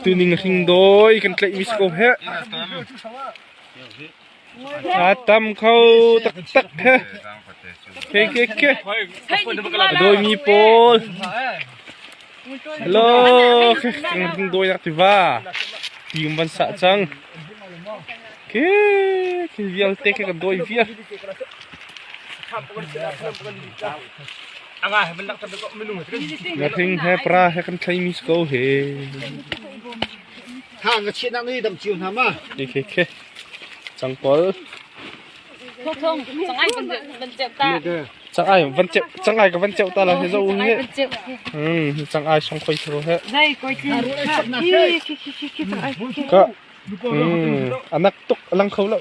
Tuning hringdawi kan tlaihmi si ko heh. A tam kho taktak he. Ke ke ke. A dawimi pawl. Hello. Kan hringdawi nak tiva. Tium van sah cang. Thil vialte kha kan dawi viar. Na thing he pra he kan thlai mi ko he. Ha nga chiat nak ni dam chiu hna ma. Ni khe khe. Chang pol. Thong sangai kan ban cep ta. Changai van cep changai ka van cep ta la he zo nge. Hmm chang ai song khoi thro he. Dai koi ki. Ki ki ki ki ki. Ka a nak tuk a lang kho lo.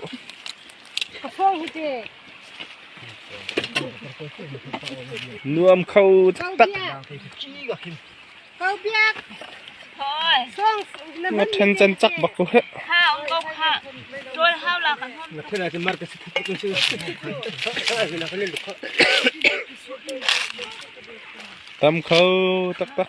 Nuam kho taktak. Na then chan chak bak ko he. Ha on go ha. Dol hau la kan hon. Na thena ke mar ke sit tu tu. Na kan lu kho. Tam kho taktak.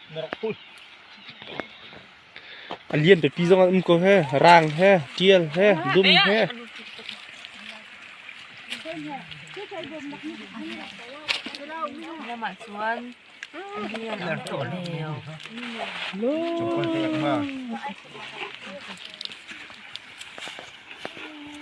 A lian pipi zong an um ko he. Raang he, ṭial he, dum he. Namah chuan rian an tuah lio. Lo.